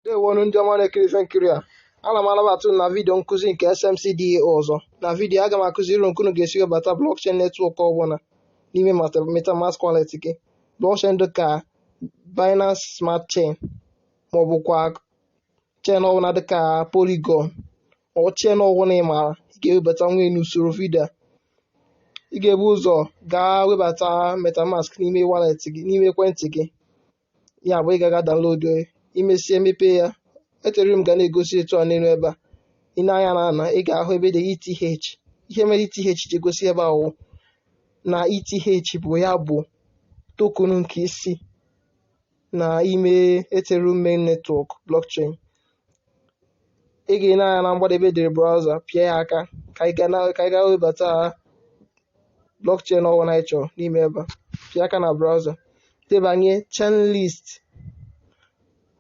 ndewonu ndị ọma na-ekiri ife nkiri a ana m anabata unu na vidio nkụzi nke SMC DAO ọzọ na vidio aga m akụziri unu ka unu ga-esi webata blockchain netwọk ọbụla n'ime mata- metamask wallet gị blockchain dị ka Binance Smart Chain maọbụ kwa chain ọbụla dị ka Polygon ọ chain ọbụla ị maara ị ga-ewebatanwu ya n'usoro vidio a. ị ga-ebu ụzọ gaa webata metamask n'ime wallet gị n'ime ekwentị gị ya bụ ị ga-aga download ya i mesịa mepe ya Ethereum ga na-egosi etu a n'elu ebe a ị nee anya na ana ị ga-ahụ ebe e dere ETH ihe mere ETH ji egosi ebe a bụ na ETH bụ ya bụ token nke isi na ime Ethereum main network blockchain ị ga-ene anya na mgbada ebe e dere browser pịa ya aka ka ị ga na- ka ị gaa webata blockchain ọbụla ị chọrọ n'ime ebe a pịa aka na browser debanye chainlist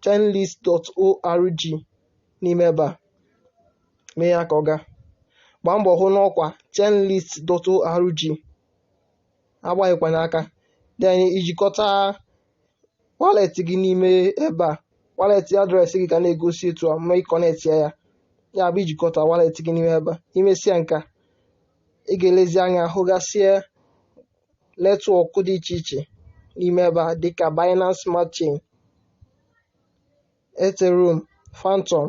chainlist.org n'ime ebe a mee ya ka ọ gaa gbaa mbọ hụ n'ọkwa chainlist.org agbaghịkwanye aka dị anyị ijikọta wallet gị n'ime ebe a wallet address gị ga na-egosi etu a ma ị connectia ya ya ya bụ ijikọta wallet gị n'ime ebe a i mesịa nke a ị ga-elezi anya hụgasịa netwọk dị iche iche n'ime ebe a dịka Binance Smart Chain Ethereum Fantom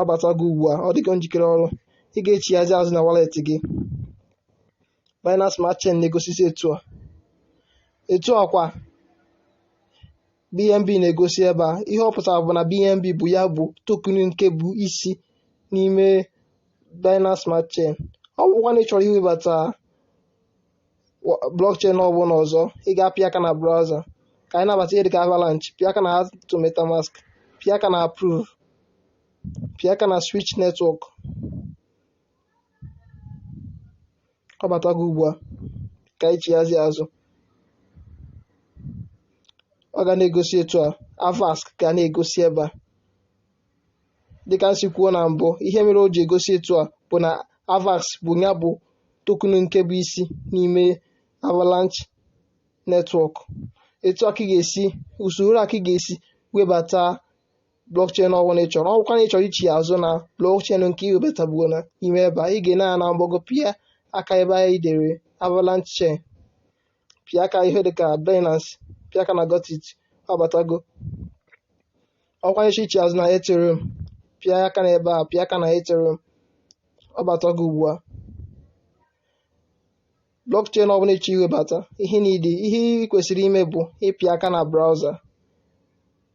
ọ batago ugbu a ọ dịgo njikere ọrụ ị ga-echighazi azụ na wallet gị Binance Smart Chain na-egosizi etu a etu a kwa BNB na-egosi ebe a ihe ọ pụtara bụ na BNB bụ ya bụ token nke bụ isi n'ime Binance Smart Chain ọ bụkwa na ị chọrọ iwebata blockchain ọbụla ọzọ ị ga-apịa aka na browser ka anyị nabata ihe dịka avalanche pịa aka na add to metamask pịa aka na approve pịa aka na switch network ọ batago ugbu a ka anyị chighazi azụ ọ ga na-egosi etu a AVAX ga na-egosi ebe a dịka m si kwuo na mbụ ihe mere o ji egosi etu a bụ na avax bụ ya bụ token nke bụ isi n'ime avalanche netwọk etu a ka ị ga-esi usoro a ka ị ga-esi webata blockchain ọbụla ị chọrọ ọbụkwa na ị chọrọ ichigha azụ na blockchain nke ị webatabuo na ime ebe a ị ga-ene anya na mgbago pịa aka ebe a e dere avalanche chain pịa aka ihe dịka Binance pịa aka na Got it ọ batago ọ bụkwa na ị chọ ichigha azụ na Ethereum pịa aka na ebe a pịa aka na Ethereum ọ batago ugbu a blockchain ọbụla ị chọ iwebata ihe niile ihe ị kwesịrị ime bụ ịpịa aka na browser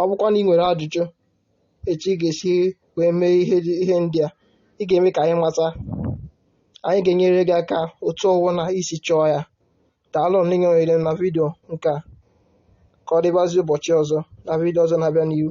ọ bụkwa na ị nwere ajụjụ etu ị ga-esi wee mee ihe dị- ihe ndị a ị ga-eme ka anyị mata anyị ga-enyere gị aka otu ọwụna i si chọọ ya daalụ na ị nọnyere m na vidio nke a ka ọ dịbazi ụbọchị ọzọ na vidio ọzọ na-abịa n'ihu